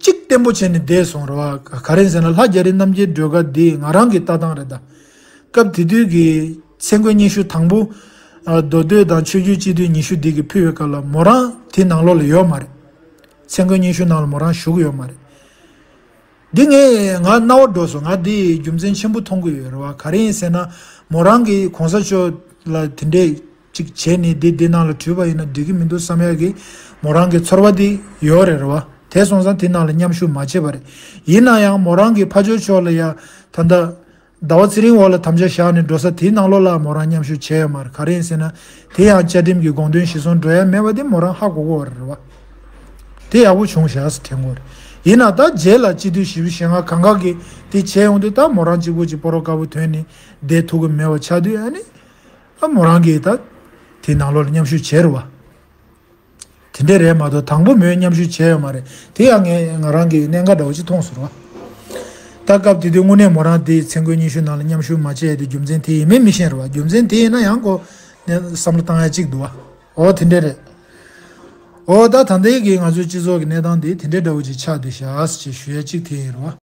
གཅིག་བརྟན་པོ་བྱས་ནས་བསྡད་སོང་ར་བ་ག་རེད་ཟེར་ན་ལྷ་རྒྱ་རི་རྣམ་རྒྱལ་སྒྲོལ་དཀར་འདི་ང་རང་གི་ལྟ་སྟངས་རེད་ད། སྐབས་དེ་དུས་ཀྱི་ཚེ་མགོན་སྙན་ཞུ་དང་པོ། མདོ་སྟོད་དང་ཆོས་རྒྱུད་སྤྱི་འཐུས་ཉི་ཤུ་འདི་གི་ཕུལ་བའི་སྐབས་ལ་མོ་རང་དེ་ནང་ལོགས་ལ་ཡོད་མ་རེད། ཚེ་མགོན་སྙན་ཞུ་ནང་ལ་མོ་རང་ཞུགས་ཡོད་མ་རེད། འདི་ངས་ང་རྣ་བ་འགྲོ་སོང་ང་འདི་རྒྱུ་མཚན་ཆེན་པོ་མཐོང་གི་ཡོད་ར་བ་ག་རེ་ཡིན་ཟེར་ན་མོ་རང་གིས་གོང་ས་མཆོག་ལ་དེ་འདྲའི་གཅིག་བྱས་ནས་དེ་དེ་ནང་ལ་དྲུད་པ་ཡིན་ན་འགྲིག་གི་མི་འདུག་བསམ་ཡག་གི། མོ་རང་གི་ཚོར་བ་དེ་ཡོད་རེད་བ། དེ་སོང་ཙང་དེ་ནང་ལ་མཉམ་ཞུགས་མ་བྱེད་པ་རེད། ཡིན་ན་ཡང་མོ་རང་གི་ཕ་ཇོ་ཕྱོགས་ལ་ཡ། ད་ལྟ། ཟླ་བ་ཚེ་རིང་འོག་ལ་དམ་བཅའ་བཞག་ནས་འགྲོ་ས་དེ་ནང་ལོགས་ལ་མོ་རང་མཉམ་ཞུགས་བྱས་ཡོད་མ་རེད་ག་རེ་ཡིན་ཟེར་ན། དེ་ཡང་བཅའ་ཁྲིམས་ཀྱི་དགོངས་དོན་གཞི་བཟུང་འགྲོ་ཡ་མེད་པ་དེ་མོ་རང་ཧ་གོ་གོ་བ་རེད་བ། དེ་ཡག་པོ་བྱུང་བཞག་ཟེར་དྲན་གོ་རེད། ཡིན་ན་ད་རྗེས་ལ་སྤྱི་འཐུས་བཞི་བོ་ཞེ་ལྔ་གང་ག་གི་དེ་བྱས་ཡོང་དུས་ད་མོ་རང་གཅིག་པོ་གཅིག་པོ་རོགས་དཀར་པོ་དོན་ནི་བསྡད་ཐུབ་གི་མེད་བ་ཆགས་དུས་ཨ་ནི། ཨ་མོ་རང་གིས་ད་དེ་ནང་ལོགས་ལ་མཉམ་ཞུགས་བྱེད་རུ་བ། དེ་འདྲས་རེད་མ་གཏོགས་དང་པོ་མོས་མཉམ་ཞུགས་བྱས་ཡོད་མ་རེད་དེ་ཡང་ངས་ང་རང་གིས་གནད་འགག་འདྲ་བོ་གཅིག་མཐོང་ཟེར་བ། ད་སྐབས་དེ་དུས་དངོས་གནས་མོ་རང་དེ་ཚེ་འཁོན་ཉི་ཤུ་ནང་ལ་མཉམ་ཞུགས་མ་བྱས་དེ་རྒྱུ་མཚན་དེ་ཡིན་མིན་མི་ཤེས་རུ་བ་རྒྱུ་མཚན་དེ་ཡིན་ན་ཡང་ཁོ་ནས་བསམ་བློ་བཏང་ཡ་གཅིག་འདུག་བ། འོ་དེ་འདྲས་རེད། འོ་ད་ད་ལྟའི་གི་ང་ཚོའི་སྤྱི་ཚོགས་ཀྱི་གནས་སྟངས་དེ་དེ་འདྲས་འདྲ་བོ་ཅིག་ཆགས་འདུག་ཤག་ཅེས་ཞུ་ཡ་གཅིག་དེ་ཡིན་རུ་བ།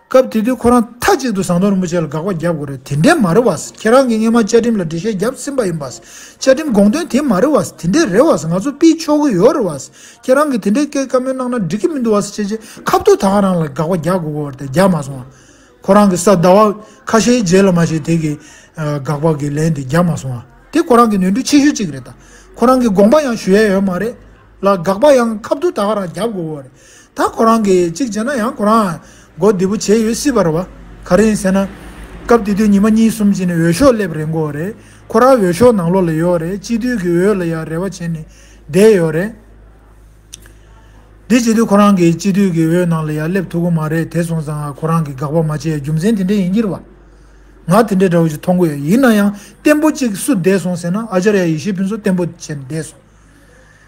སྐབས་དེ་དུས་ཁོ་རང་མཐའ་གཅིག་ཏུ་ཟངས་མདོག་རིན་པོ་ཆེ་ལ་དགག་པ་རྒྱབ་དགོས་རེད་དེ་འདྲས་མ་རེད་བ། ཁྱེད་རང་གིས་སྔས་མ་བཅའ་ཁྲིམས་ལ་འགྲེལ་བཤད་རྒྱབ་ཟིན་པ་ཡིན་པ། བཅའ་ཁྲིམས་དགོངས་དོན་དེ་མ་རེད་བ་དེ་འདྲས་རེད་བ་ང་ཚོ་སྤིས་ཆོག་གི་ཡོད་རེད་བ། ཁྱེད་རང་གིས་དེ་འདྲས་སྐད་དཀའ་མོ་གནང་ན་འགྲིག་གི་མི་འདུག་བ་ཅེས་ཅེས་ཁ་བརྡོ་དག་རང་ལ་དགག་པ་རྒྱག་དགོས་དགོས་རེད་རྒྱག་མ་སོང་བ། ཁོ་རང་གིས་ས་ཟླ་བ་ཁ་ཤས་རྗེས་ལ་མ་ཤེས་དེ་གི་དགག་པ་གི་ལན་དེ་རྒྱག་མ་སོང་བ། དེ་ཁོ་རང་གི་ནུས་འདོད་ཆེ་ཤོས་གཅིག་རེད་ད། ཁོ་རང་གིས་དགོངས་པ་ཡང་ཞུ་ཡས་ཡོད་མ་རེད་ལ་དགག་པ་ཡང་ཁ་བརྡོ་དག་རང་རྒྱབ་དགོས་དགོས་རེད། ད་ཁོ་རང་གིས་གཅིག་བྱས་ན་ཡང་ཁོ་རང་མགོ་བདེ་པོ་བྱས་ཡོད་སྲིད་པ་རེད་བ། ག་རེ་ཡིན་ཟེར་ན། སྐབས་དེ་དུས་ཉི་མ་གཉིས་གསུམ་བྱས་ནས་འོས་ཤོག་སླེབས་རེ་མགོ་བ་རེད། ཁོ་རང་འོས་ཤོག་ནང་ལོགས་ལ་ཡོད་བ་རེད་སྤྱི་འཐུས་ཀྱི་འོས་ལ་ཡང་རེ་བ་བྱས་ནས་བསྡད་ཡོད་རེད། དེ་བྱས་དུས་ཁོ་རང་གིས་སྤྱི་འཐུས་ཀྱི་འོས་ནང་ལ་ཡང་སླེབས་ཐུབ་གི་མ་རེད་དེ་སོང་ཙང་ཁོ་རང་གིས་དགག་པ་མ་བྱས་རྒྱུ་མཚན་དེ་འདྲས་ཡིན་གྱི་རེད་བ། ང་དེ་འདྲས་འདྲ་བོ་ཞིག་མཐོང་གི་ཡོད་ཡིན་ན་ཡང་བརྟན་པོ་གཅིག་སུ་བསྡད་སོང་ཟེར་ན་ཨ་ཅར་ཡ་ཡེ་ཤེས་ཕུན་ཚོགས་བརྟན་པོ་བྱས་ནས་བསྡད་སོང།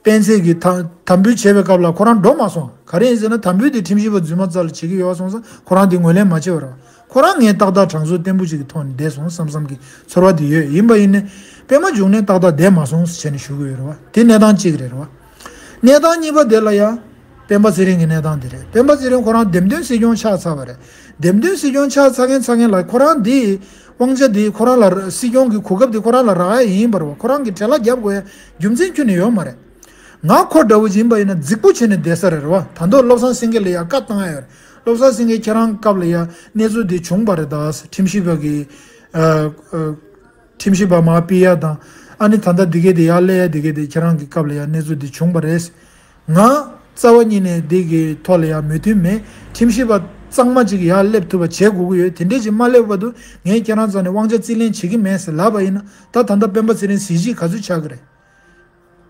སྤེན་ཚེས་ཀྱིས་དམ་འབུལ་བྱས་པའི་སྐབས་ལ་ཁོ་རང་འགྲོ་མ་སོང། ག་རེ་ཡིན་ཟེར་ན་དམ་འབུལ་དེ་ཁྲིམས་ཞིབ་པ་རྫུན་མ་རྩ་ལ་བྱེད་ཀྱི་ཡོད་སོང་ས་ཁོ་རང་དེ་ངོས་ལེན་མ་བྱས་པ་རེད། ཁོ་རང་ངས་ཏག་ཏག་དྲང་ཚུགས་བརྟན་པོ་ཞིག་གི་ཐོག་ནས་བསྡད་སོང་བསམ་བསམ་གི་ཚོར་བ་དེ་ཡོད་ཡིན་པ་ཡིན། སྤེན་མ་བྱུང་ནས་ཏག་ཏག་བསྡད་མ་སོང་ཟེར་ནས་ཞུ་གི་ཡོད་རེད་བ། དེ་གནས་སྟངས་གཅིག་རེད་རེད་བ། གནས་སྟངས་གཉིས་པ་དེ་ལ་ཡང། སྤེན་པ་ཚེ་རིང་གི་གནས་སྟངས་དེ་རེད་སྤེན་པ་ཚེ་རིང་ཁོ་རང་འདེམས་ཐོན་སྲིད་སྐྱོང་ཆགས་ཚར་བ་རེད། འདེམས་ཐོན་སྲིད་སྐྱོང་ཆགས་ཚར་མཁན་ཚར་མཁན་ལ་ཁོ་རང་དེ། དབང་ཆ་དེ་ཁོ་རང་ལ་སྲིད་སྐྱོང་གི་གོ་སྐབས་དེ་ཁོ་རང་ལ་རག་ཡ་ཡིན་པར་བ་ཁོ་རང་གི་གྲལ་ལ་རྒྱབ་དགོས་ཡ་རྒྱུ་མཚན་ཁྱོན་ནས་ཡོད་མ་རེད། ང་ཁོ་འདྲ་བོ་ཡིན་པ་ཡིན་ན་རྫིག་པོ་བྱས་ནས་བསྡད་ས་རེད་བ་ད་མདོག་བློ་བཟང་སེང་གེ་ལ་ཡ་བཀའ་བཏང་ཡ་ཡོད་བློ་བཟང་སེང་གེ་ཁྱེད་རང་སྐབས་ལ་ཡ་གནས་ཚུལ་དེ་བྱུང་བ་རེད་ད་ཁྲིམས་ཞིབ་པ་གི་ཁྲིམས་ཞིབ་པ་མ་སྤེལ་ཡ་དང་ཨ་ནི་ད་ལྟ་དེ་གས་དེ་ཡ་གླས་ཡ་དེ་གས་དེ་ཁྱེད་རང་གི་སྐབས་ལ་ཡ་གནས་ཚུལ་དེ་བྱུང་བ་རེད། ང་རྩ་བ་ཉིད་ནས་འདི་གི་ཐོག་ལ་ཡང་མོས་མཐུན་མེད་ཁྲིམས་ཞིབ་པ་གཙང་མ་གཅིག་ཡར་སླེབས་ཐུབ་པ་བྱེད་དགོས་ཀྱི་ཡོད་དེ་འདྲས་ཀྱི་མ་སླེབས་བར་དུ་ངས་ཁྱེད་རང་ཚོ་ནས་དབང་ཆ་རྩིས་ལེན་བྱེད་ཀྱི་མེད་ཟེར་ལབ་པ་ཡིན་ན་ད་ད་ལྟ་སྤེན་པ་ཚེ་རིང་གཟི་བརྗིད་ག་ཚོད་ཆགས་ཀྱི་རེད།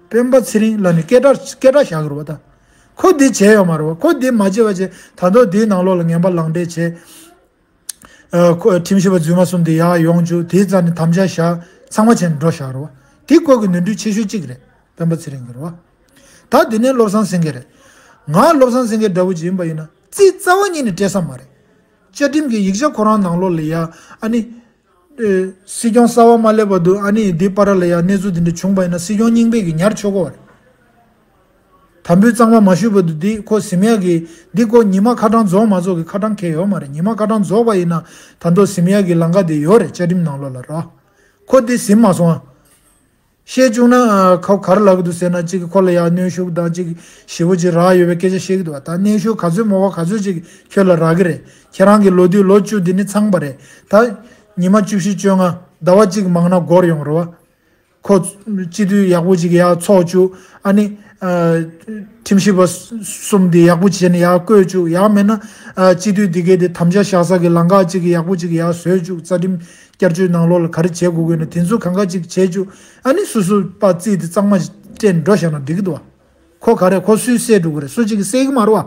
སྤེན་པ་ཚེ་རིང་ལ་ནི་སྐད་གྲགས་སྐད་གྲགས་བཞག་གི་རོགས་ད། ཁོ་འདི་བྱས་ཡོད་མ་རེད་བ་ཁོ་འདི་མ་བྱས་བ་བྱས་ད་མདོ་འདིའི་ནང་ལོགས་ལ་ངན་པ་ལངས་འབྲས་བྱས། ཁྲིམས་ཞིབ་པ་རྫུན་མ་གསུམ་དེ་ཡག་ཡོང་བཅུག་དེའི་རྩ་ནས་དམ་བཅའ་བཞག་ཚང་མ་བྱས་ནས་འགྲོ་བཞག་རེད་བ། དེ་བཀོལ་གི་ནུས་འདོད་ཆེ་ཤོས་གཅིག་རེད་སྤེན་པ་ཚེ་རིང་གིར་བ། ད་དེ་ནས་བློ་བཟང་སེང་གེ་རེད། ང་བློ་བཟང་སེང་གེ་འདྲ་བོ་ཅིག་ཡིན་པ་ཡིན་ན་རྩིས་རྩ་བ་ཉིད་ནས་སྤྲད་ས་མ་རེད། བཅའ་ཁྲིམས་ཀྱི་ཡིག་ཆ་ཁོ་རང་ནང་ལོག་ལ་ཡ་ཨ་ནི། སྲིད་སྐྱོང་གསར་བ་མ་སླེབས་པ་དུ་ཨ་ནི་དེ་པ་ར་ལ་ཡ་གནས་ཚུལ་དེ་འདྲ་བྱུང་པ་ཡིན་ན་སྲིད་སྐྱོང་རྙིང་པས་གི་ཉར་ཆོག་གོ་རེད། དམ་འབུལ་གཙང་མ་མ་ཞུས་བར་དུ་འདི་ཁོ་གཟིམ་ཡག་གིས་འདི་ལྐོག་ཉི་མ་ཁ་གྲངས་རྫོགས་མ་རྫོགས་ཀྱི་ཁ་གྲངས་ཁེལ་ཡོད་མ་རེད་ཉི་མ་ཁ་གྲངས་རྫོགས་པ་ཡིན་ན་ད་མདོ་གཟིམ་ཡག་གི་ལང་ཀ་དེ་ཡོད་རེད་བཅའ་ཁྲིམས་ནང་ལོག་ལ་རོགས། ཁོ་འདི་གཟིམ་མ་སོང། བཤད་བཅུག་ན་ཁོ་གར་ལག་གི་འདུག་ཟེར་ན་གཅིག་ཁོ་ལ་ཡག་གནོན་ཤུགས་དང་གཅིག་ཞི་བོ་གཅིག་རག་ཡོད་པའི་སྐད་ཆ་བཤད་གི་འདུག་བ་ད་གནོན་ཤུགས་ག་ཚོད་མོ་བ་ག་ཚོད་ཅིག་ཁྱོད་ལ་རག་གི་རེད་ཁྱེད་རང་གི་ལོ་དུས་ལོ་བཅུ་འདི་ནི་ཚང་པ་རེད་ད། ཉི་མ་བཅུ་བཞི་བཅོ་ལྔ་ཟླ་བ་གཅིག་མང་ན་འགོར་ཡོང་རོ། ཁོ། སྤྱི་འཐུས་ཡག་པོ་ཅིག་ཡ་འཚོགས་བཅུག་ཨ་ནི། ཁྲིམས་ཞིབ་པ་གསུམ་དེ་ཡག་པོ་བྱས་ནས་ཡ་བསྐོས་བཅུག་ཡག་མེད་ན། སྤྱི་འཐུས་དེ་གས་དེ་དམ་བཅའ་བཞག་ས་གི་ལང་ཀ་ཅིག་ཡག་པོ་ཅིག་ཡ་བཟོས་བཅུག་རྩ་ཁྲིམས་བསྐྱར་བཅོས་ནང་ལོག་ལ་ག་རེ་བྱེད་དགོས་དགོས་ན་དེ་ཚོ་གང་ཀ་ཅིག་བྱས་བཅུག་ཨ་ནི་སུ་སུ་པ་རྩིས་དེ་གཙང་མ་སྤྲད་འགྲོ་བཞག་ན་འགྲིག་གི་འདུག་བ། ཁོ་ག་རེ་ཁོ་སུའི་སྲས་འགྲོ་གི་རེད་སུ་གཅིག་གི་སྲས་ཀི་མ་རུ་བ།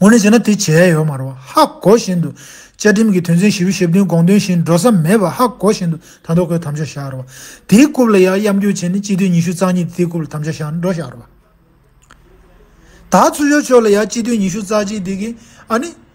ངོ་ནས་བྱས་ན་དེ་བྱས་ཡོད་མ་རེད། ཧ་གོ་བཞིན་དུ། བཅའ་ཁྲིམས་ཀྱི་དོན་ཚན་བཞི་བཞི་བྱེད་བདུན་དགོངས་དོན་བཞིན་འགྲོ་ས་མེད་པ་ཧ་གོ་བཞིན་དུ་ད་མདོ་ཁོའི་དམ་བཅའ་བཞག་རེད། དེའི་རྐུབ་ལ་ཡང་གཡམ་རྒྱུག་བྱས་ནས་སྤྱི་འཐུས་ཉི་ཤུ་རྩ་གཉིས་དེའི་རྐུབ་ལ་དམ་བཅའ་བཞག་ནས་འགྲོ་བཞག་རེད། ད་ཚུར་ཤོར་ཆོག་ལ་ཡང་སྤྱི་འཐུས་ཉི་ཤུ་རྩ་གཅིག་དེ་གིས་ཨ་ནི།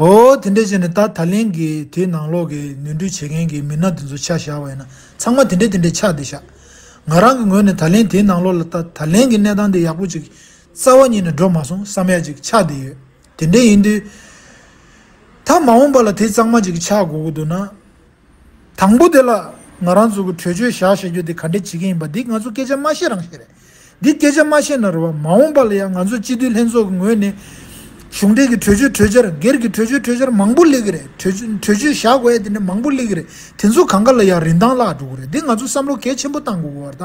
ཨོ། དེ་འདྲའི་ཆ་ནས་ད་ད་ལན་གྱི་དེའི་ནང་ལོགས་ཀྱི་ནུས་འབྲུ་བྱེད་མཁན་གྱི་མི་སྣ་དེ་ཚོ་ཆ་བཞག་པ་ཡིན་ན་ཚང་མ་དེ་འདྲས་དེ་འདྲས་ཆགས་བསྡད་བཞག། ང་རང་གི་ངོས་ནས་ད་ལན་དེའི་ནང་ལོགས་ལ་ད་ད་ལན་གྱི་གནས་སྟངས་འདི་ཡག་པོ་ཅིག་རྩ་བ་ཉིད་ནས་འགྲོ་མ་སོང་བསམ་ཡག་ཅིག་ཆགས་བསྡད་ཡོད། དེ་འདྲས་ཡིན་དུས། ད་མ་འོངས་པ་ལ་དེ་གཙང་མ་ཅིག་ཆགས་དགོས་ཀྱི་འདུག་ན། དང་པོ་དེ་ལ། ང་རང་ཚོ་གི་གྲོས་ཆོད་བཞག་བཞག་རྒྱུ་དེ་ག་འདྲས་བྱེད་ཀྱི་ཡིན་པ་འདི་ང་ཚོ་སྐད་ཆ་མ་བཤད་རང་བཤད་རེད། འདི་སྐད་ཆ་མ་བཤད་ན་རེ་བ། མ་འོངས་པ་ལ་ཡང་ང་ཚོ་སྤྱི་འཐུས་ལྷན་ཚོགས་ཀྱི་ངོས་ནས། གཞུང་འབྲེལ་གྱི་གྲོས་ཆོད་གྲོས་འཆར་སྒེར་གྱི་གྲོས་ཆོད་གྲོས་འཆར་མང་པོ་གླེགས་ཀྱི་རེད། གྲོས་ཆོད་བཞག་དགོས་ཡས་དེ་འདྲ་མང་པོ་གླེགས་ཀྱི་རེད་དེ་ཚོ་གང་ག་ལ་ཡང་རིན་ཐང་བརླག་འགྲོ་གི་རེད་འདི་ང་ཚོ་བསམ་བློ་གལ་ཆེན་པོ་བཏང་དགོས་གི་བར་ད།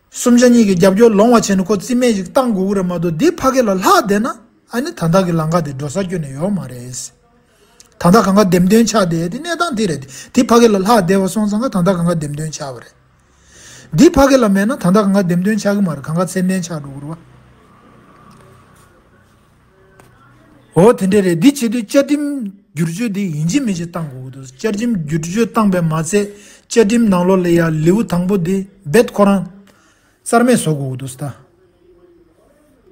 གསུམ་ཆ་གཉིས་ཀྱི་རྒྱབ་སྐྱོར་ལོང་བ་བྱས་ནས་ཁོ་རྩིས་མེད་ཞིག་བཏང་དགོས་ཀྱི་རེད་མ་གཏོགས་འདིའི་ཕ་སྐད་ལ་ལྷག་བསྡད་ན་ཨ་ནི་ད་ལྟ་གི་ལང་ཀ་དེ་འགྲོ་ས་སྐྱོ་ནས་ཡོག་མ་རེད། ད་ལྟ་གང་ག་འདེམས་ཐོན་ཆགས་བསྡད་དེ་གནས་སྟངས་དེ་རེད་དེ་ཕ་སྐད་ལ་ལྷག་བསྡད་བ་སོང་ཙང་ང་ད་ལྟ་གང་ག་འདེམས་ཐོན་ཆགས་བ་རེད། འདིའི་ཕ་སྐད་ལ་མེད་ན་ད་ལྟ་གང་ག་འདེམས་ཐོན་ཆགས་གི་མ་རེད་གང་ག་ཚད་ལྡན་ཆགས་འགྲོ་གི་རེད། འོ་དེ་འདྲ་རེད་འདི་བྱེད་དུས་བཅའ་ཁྲིམས་སྒྱུར་བཅོས་དེ་ཡིན་གྱི་མིན་གྱི་བཏང་དགོས་ཀྱི་འདུག་བཅའ་ཁྲིམས་སྒྱུར་བཅོས་བཏང་པས་མ་ཚད་བཅའ་ཁྲིམས་ནང་ལོགས་ལས་ཡ་ལེའུ་དང་པོ་དེ་རྦད་ཁོ་རང་རྩར་མེད་བཟོ་དགོས་ཀྱི་འདུག་ད།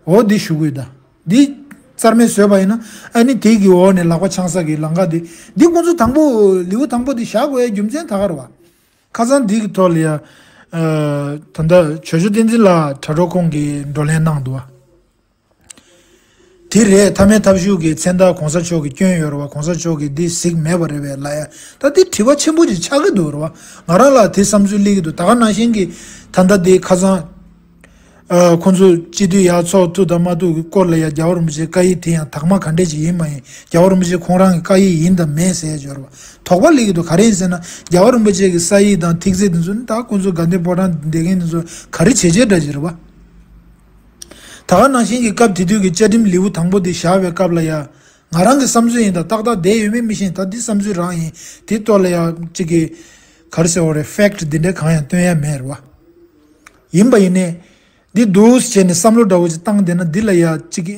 འོ་འདི་ཞུ་གི་ཡོད་ད། འདི་རྩར་མེད་བཟོས་པ་ཡིན་ན་ཨ་ནི་དེ་གི་འོག་ནས་ལག་པ་འཆང་ས་གི་ལང་ཀ་དེ་འདི་ཁོང་ཚོ་དང་པོ་ལེའུ་དང་པོ་དེ་བཞག་དགོས་ཡ་རྒྱུ་མཚན་ད་གར་བ། ཁ་སང་འདི་གི་ཐོག་ལ་ཡ། ད་ལྟ་བྱོལ་བྱོལ་བསྟན་འཛིན་ལགས་དྲ་གྲོགས་ཁོང་གིས་བགྲོ་གླེང་གནང་འདུག་བ། དེ་རེད་མཐའ་མའི་འཐབ་ཞུགས་ཀྱི་མཚན་རྟགས་གོང་ས་མཆོག་གི་སྐྱོན་ཡོད་རེད་བ་གོང་ས་མཆོག་གིས་འདི་གཟིགས་མེད་པ་རེད་བས་ལ་ཡ་ད་འདི་དྲི་བ་ཆེན་པོ་ཞིག་ཆགས་ཀྱི་འདུག་རེད་བ་ང་རང་ལ་དེ་བསམ་ཚུལ་གླེང་གི་འདུག་ད་ག་ནང་བཞིན་གྱི་ད་ལྟ་འདི་ཁ་སང། ཁོང་ཚོས་སྤྱི་འཐུས་ཡག་ཚོགས་འཐུས་དང་མ་འཐུས་ཀྱི་སྐོར་ལ་ཡང་རྒྱ་བོད་རིན་པོ་ཆེའི་བཀའ་ཡིག་དེ་ཡང་དག་མ་ག་འདྲས་ཅིག་ཡིན་མ་ཡིན་རྒྱ་བོད་རིན་པོ་ཆེ་ཁོང་རང་གི་བཀའ་ཡིག་ཡིན་དང་མེད་ཟེར་བྱོས་རེད་བ་དོགས་པ་གླེང་གི་འདུག་ག་རེ་ཡིན་ཟེར་ན་རྒྱ་བོད་རིན་པོ་ཆེ་གི་ས་ཡིག་དང་ཐིག་རྩེ་འདི་ཚོ་ནི་ད་ཁོང་ཚོས་དགའ་ལྡན་ཕོ་བྲང་འདེད་མཁན་འདི་ཚོ་ག་རེ་བྱེད་བྱེད་འདྲ་བྱེད་རེད་བ། ད་ག་ནང་བཞིན་གྱི་སྐབས་དེ་དུས་ཀྱི་བཅའ་ཁྲིམས་ལེའུ་དང་པོ་དེ་བཞག་པའི་སྐབས་ལ་ཡ། ང་རང་གི་བསམ་ཚུལ་ཡིན་ད་ཏག་ཏག་བསྡད་ཡོད་མེད་མི་ཤེས་ད་འདི་བསམ་ཚུལ་རང་ཡིན་དེ་སྟོར་ལ་ཡ། གཅིག་གི། གར་ཟེར་བ་རེད fact འདི་འདྲའི་གང་ཡང་སྟོན་ཡ་མེད་རེད་བ། ཡིན་པ་ཡིན་ནས། འདི་འདུག་བྱས་ནས་བསམ་བློ་འདྲ་བོ་ཅིག་བཏང་བསྡད་ན་འདི་ལ་ཡ། གཅིག་གི།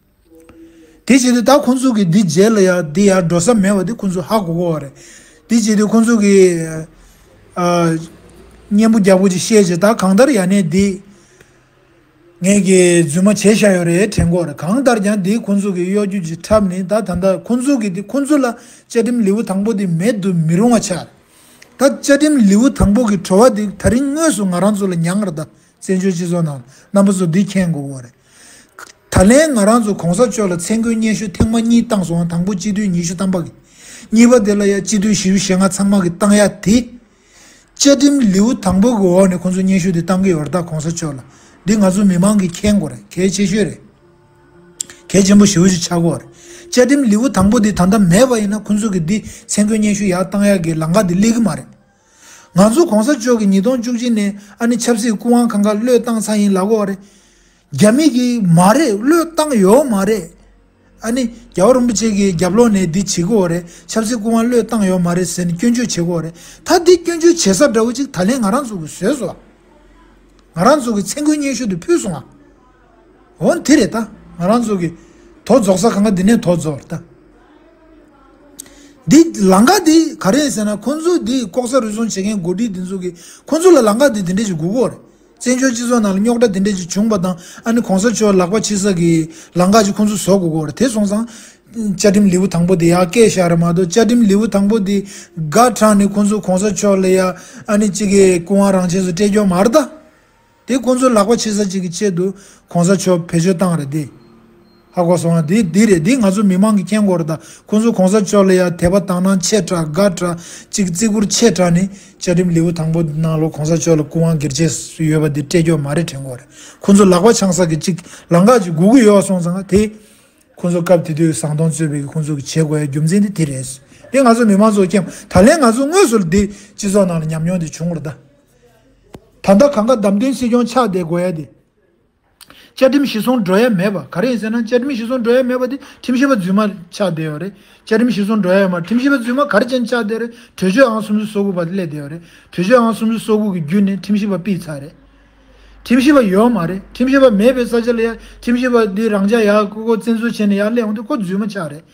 དེ་བྱས་ཏེ་ད་ཁོང་ཚོ་གིས་འདི་བརྗེད་ལ་ཡག་འདི་ཡག་འགྲོ་ས་མེད་པ་དེ་ཁོང་ཚོ་ཧ་གོ་གོ་བ་རེད། དེ་བྱས་ཏེ་ཁོང་ཚོ་གིས། གཉེན་པོ་རྒྱ་བོ་ཅིག་བཤད་རྗེས་ད་གང་ལྟར་ཡ་ནས་འདི། ངེད་ཀྱིས་རྫུན་མ་བྱས་ཤག་ཡོད་རེད་དྲན་གོ་རེད་གང་ལྟར་ཀྱང་འདི་ཁོང་ཚོ་གིས་གཡོ་སྒྱུ་ཅིག་འཁྲབ་ནི་ད་ད་ལྟ་ཁོང་ཚོ་གིས་འདི་ཁོང་ཚོ་ལ་བཅའ་ཁྲིམས་ལེའུ་དང་པོ་འདི་མེད་དུ་མི་རུང་བ་ཆགས་རེད། ད་བཅའ་ཁྲིམས་ལེའུ་དང་པོ་གི་བྲོ་བ་འདི་ད་རིང་དངོས་སུ་ང་རང་ཚོ་ལ་མྱངས་རེད་ད་བཙན་བྱོལ་སྤྱི་ཚོགས་ནང་ལ་རྣམ་པ་ཚོ་འདི་མཁྱེན་གོ་གོ་རེད། ད་ལན་ང་རང་ཚོ་གོང་ས་མཆོག་ལ་མཚན་སྐུལ་སྙན་ཞུ་ཐེངས་མ་གཉིས་བཏང་སོང་དང་པོ་སྤྱི་འཐུས་ཉི་ཤུ་ཐམ་པ། གཉིས་པ་དེ་ལ་ཡང་སྤྱི་འཐུས་བཞི་བཅུ་ཞེ་ལྔ་ཚང་མ་གིས་བཏང་ཡ་དེ། བཅའ་ཁྲིམས་ལེའུ་དང་པོ་གི་འོག་ནས་ཁོང་ཚོས་སྙན་ཞུ་དེ་བཏང་གི་ཡོད་རེད་ད་གོང་ས་མཆོག་ལ་འདི་ང་ཚོ་མི་མང་གིས་མཁྱེན་དགོས་རེད་གལ་ཆེ་ཤོས་རེད། གལ་ཆེན་པོ་ཞེ་བོ་ཞིག་ཆགས་དགོས་རེད། བཅའ་ཁྲིམས་ལེའུ་དང་པོ་དེ་ད་ལྟ་མེད་པ་ཡིན་ན་ཁོང་ཚོས་གིས་འདི་མཚན་སྐུལ་སྙན་ཞུ་ཡག་བཏང་ཡ་གི་ལང་ཀ་དེ་སླེབས་གི་མ་རེད། ང་ཚོ་གོང་ས་མཆོག་གི་ཉིས་སྟོང་བཅུ་གཅིག་ནས་ཨ་ནི་ཆབ་སྲིད་སྐུ་དབང་གང་ག་བློས་བཏང་ཚར་ཡིན་ལགས་གོ་རེད། རྒྱ་མི་གིས་མ་རེད་བློས་བཏང་ཡོད་མ་རེད། ཨ་ནི་རྒྱ་བོ་རིན་པོ་ཆེ་གིས་རྒྱབ་ལོག་ནས་འདི་བྱེད་གི་འོ་རེད་ཆབ་སྲིད་སྐུ་དབང་བློས་བཏང་ཡོད་མ་རེད་ཟེར་ནས་སྐྱོན་བརྗོད་བྱེད་གི་འོ་རེད་ད་འདི་སྐྱོན་བརྗོད་བྱེད་ས་འདྲ་བོ་གཅིག་ད་ལན་ང་རང་ཚོ་གིས་བཟོས་སོང། ང་རང་ཚོ་གིས་ཚེ་མགོན་སྙན་ཞུ་དེ་ཕུལ་སོང་ང། འོ་དེ་རེད་ད་ང་རང་ཚོ་གི་དོ་རྫོགས་ས་གང་ག་འདི་ནས་དོ་རྫོགས་ད། འདི་ལང་ཀ་འདི་ག་རེད་ཟེར་ན་ཁོང་ཚོ་འདི་ལྐོག་ཟ་རུལ་སོང་བྱེད་མཁན་གོ་སྒྲིག་འདི་ཚོ་གི་ཁོང་ཚོ་ལ་ལང་ཀ་འདི་འདི་འདྲས་ཅིག་སྒུག་གོ་རེད་བཙན་བྱོལ་སྤྱི་ཚོགས་ནང་ལ་རྙོག་དྲ་འདི་འདྲས་ཅིག་བྱུང་པ་དང་ཨ་ནི་གོང་ས་མཆོག་ལག་པ་ཕྱི་ས་གི་ལང་ཀ་ཅིག་ཁོང་ཚོ་བཟོ་དགོས་གོ་རེད་དེ་སོང་ཙང་བཅའ་ཁྲིམས་ལེའུ་དང་པོ་འདི་ཡག་སྐད་བཤད་ར་མ་གཏོགས་བཅའ་ཁྲིམས་ལེའུ་དང་པོ་འདི་འགའ་དྲངས་ནས་ཁོང་ཚོ་གོང་ས་མཆོག་ལ་ཡ་ཨ་ནི་གཅིག་གི་སྐུ་དབང་རང་ཆས་སུ་སྤྲད་རྒྱོ་མ་རེད་ད། དེ་ཁོང་ཚོའི་ལག་པ་ཕྱེ་ས་ཅིག་གི་ཆེད་དུ་གོང་ས་མཆོག་བེད་སྤྱོད་བཏང་རེད་དེ། ཧ་གོ་སོང་ང་དེ་དེ་རེད་དེ་ང་ཚོ་མི་མང་གི་མཁྱེན་གོ་རེད་ད་ཁོང་ཚོ་གོང་ས་མཆོག་ལ་ཡང་དད་པ་དང་སྣང་ཆེ་དྲག་དགའ་དྲག་ཅིག་བརྩི་བཀུར་ཆེ་དྲག་ནི་བཅའ་ཁྲིམས་ལེའུ་དང་པོ་ནང་ལོ་གོང་ས་མཆོག་ལ་སྐུ་དབང་སྒེར་བཅས་སུ་ཡོད་པ་དེ་སྤྲད་ཀྱོག་མ་རེད་དྲན་གོ་རེད་ཁོང་ཚོ་ལག་པ་འཆང་ས་གི་ཅིག་ལང་ཀ་ཅིག་སྒུག་གི་ཡོག་སོང་ཙང་ང་དེ། ཁོང་ཚོ་སྐབས་དེ་དུས་བཟང་གཏོང་རྩོད་པའི་གི་ཁོང་ཚོ་གི་བྱེད་དགོས་ཡ་རྒྱུ་མཚན་དེ་དེ་རེད་དེ་ང་ཚོ་མི་མང་ཚོ་མཁྱེན་གོ་ད་ལན་ང་ཚོ་དངོས་སུ་ལ་དེ་སྤྱི་ཚོགས་ནང་ལ་ཉམས་མྱོང་དེ་བྱུང་གོ་རེད་ད། ད་ལྟ་གང་གཱ་བདམས་ཐོན་སྲིད་སྐྱོང་ཆགས་བསྡད་དགོས་ཡ་དེ། བཅའ་ཁྲིམས་གཞི་བཟུང་འགྲོ་ཡ་མེད་པ་ག་རེད་ཟེར་ན་བཅའ་ཁྲིམས་གཞི་བཟུང་འགྲོ་ཡ་མེད་པ་དེ་ཁྲིམས་ཞིབ་པ་རྫུན་མ་ཆགས་བསྡད་ཡོད་རེད་བཅའ་ཁྲིམས་གཞི་བཟུང་འགྲོ་ཡ་མ་ཁྲིམས་ཞིབ་པ་རྫུན་མ་གར་ཅན་ཆགས་བསྡད་རེད་གྲོས་ཆོད་ཨང་སུམ་ཅུ་སོ་དགུ་པ་གླས་བསྡད་ཡོད་རེད་གྲོས་ཆོད་ཨང་སུམ་ཅུ་སོ་དགུ་གི་བརྒྱུད་ནས་ཁྲིམས་ཞིབ་པ་སྤིས་ཚར་རེད། ཁྲིམས་ཞིབ་པ་ཡོད་མ་རེད་ཁྲིམས་ཞིབ་པ་མེད་པའི་ས་ཆ་ལ་ཡ་ཁྲིམས་ཞིབ་པ་དེ་རང་ཅག་ཡག་ཀོ་ཀོ་བཙན་བཟུང་བྱས་ནས་ཡག་གླས་འོང་དུས་ཁོ་རྫུན་མ་ཆགས་རེད།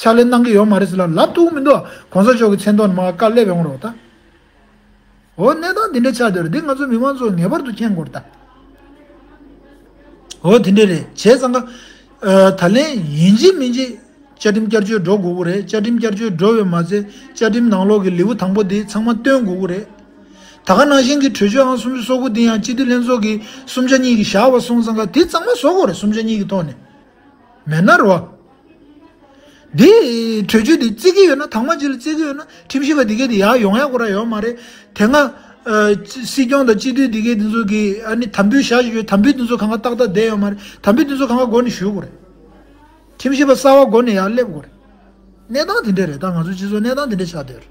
ཕྱག་ལས་གནང་གི་ཡོག་མ་རེད་ཟེར་ལབ་ལབ་ཐུག་མི་འདུག་གོང་ས་མཆོག་གི་མཚན་ཐོག་ནས་མ་བཀའ་སླེབས་ཡོང་རོགས་ད། འོ་གནས་སྟངས་དེ་འདྲ་ཆགས་དུས་འདི་ང་ཚོ་མི་མང་ཚོ་ངེས་པར་དུ་མཁྱེན་དགོས་རེད་ད། འོ་དེ་འདྲ་རེད་བྱས་ཙང་ཀ། ད་ལན་ཡིན་གཅིག་མིན་གཅིག་བཅའ་ཁྲིམས་བསྐྱར་བཅོས་འགྲོ་དགོས་ཀྱི་རེད་བཅའ་ཁྲིམས་བསྐྱར་བཅོས་འགྲོ་བས་མ་ཚད་བཅའ་ཁྲིམས་ནང་ལོག་གི་ལེའུ་དང་པོ་དེ་ཚང་མ་བཏོན་དགོས་ཀྱི་རེད། ད་ག་ནང་བཞིན་གྱི་གྲོས་ཆོད་ཨང་གསུམ་བཟོ་དགོས་དེ་ཡང་སྤྱི་འཐུས་ལྷན་ཚོགས་ཀྱིས་གསུམ་ཆ་གཉིས་ཀྱིས་བཞག་པ་སོང་ཙང་ཀ་དེ་གཙང་མ་བཟོ་དགོས་རེད་གསུམ་ཆ་གཉིས་ཀྱི་ཐོག་ནས། མེད་ན་རོ། འདི་གྲོས་ཆོད་འདི་བརྩི་གི་ཡོད་ན་དྭངས་མ་བྱས་ལ་བརྩི་གི་ཡོད་ན་ཁྲིམས་ཞིབ་པ་འདི་གས་འདི་ཡག་ཡོང་ཡག་གོ་ར་ཡོད་མ་རེད། དེ་སྔ། སྲིད་སྐྱོང་དང་སྤྱི་འཐུས་འདི་གས་འདི་ཚོ་གི་ཨ་ནི་དམ་འབུལ་བྱ་བཞིན་ཡོད་དམ་འབུལ་འདི་ཚོ་གང་ག་ཏག་ཏག་བསྡད་ཡོད་མ་རེད་དམ་འབུལ་འདི་ཚོ་གང་ག་སྒོ་ནས་ཞུས་གོ་རེད། ཁྲིམས་ཞིབ་པ་གསར་བ་སྒོ་ནས་ཡག་སླེབས་གོ་རེད། གནས་སྟངས་དེ་འདྲས་རེད་ད་ང་ཚོའི་སྤྱི་ཚོགས་གནས་སྟངས་དེ་འདྲས་ཆགས་སྡོད་རེད།